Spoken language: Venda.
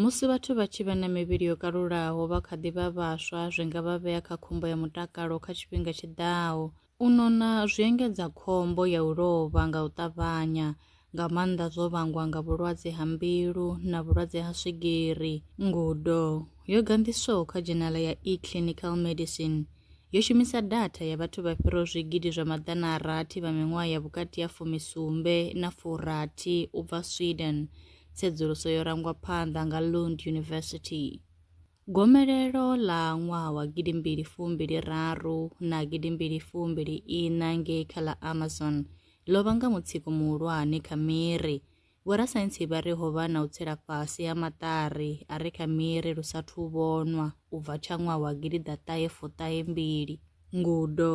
Musi vhathu vha tshi vha na mivhili yo kalulaho vha kha ḓi vha vhaswa zwi nga vha vhea kha khombo ya mutakalo kha tshifhinga tshi ḓaho. U nona zwi engedza khombo ya u lovha nga u ṱavhanya, nga maanḓa zwo vhangwa nga vhulwadze ha mbilu na vhulwadze ha swigiri. Ngudo yo ganḓiswaho kha dzhenala ya eClinical Medicine yo shumisa datha ya vhathu vha fhiraho zwigidi zwa maḓana a rathi vha miṅwaha ya vhukati ha fumi sumbe na furathi u bva Sweden tsedzuluso yo rangwa phanḓa nga Lund University. Gomelelo ḽa ṅwaha wa gidi mbili fumbili raru na gidi mbili fumbili ina ngei kha ḽa Amazon ḽo vhanga mutsiko muhulwane kha miri. Vhorasaintsi vha ri ho vha na u tsela fhasi ha maṱari a re kha miri lu sa thu vhonwa u bva tsha ṅwaha wa gidi ḓaṱahe fuṱahe mbili. Ngudo.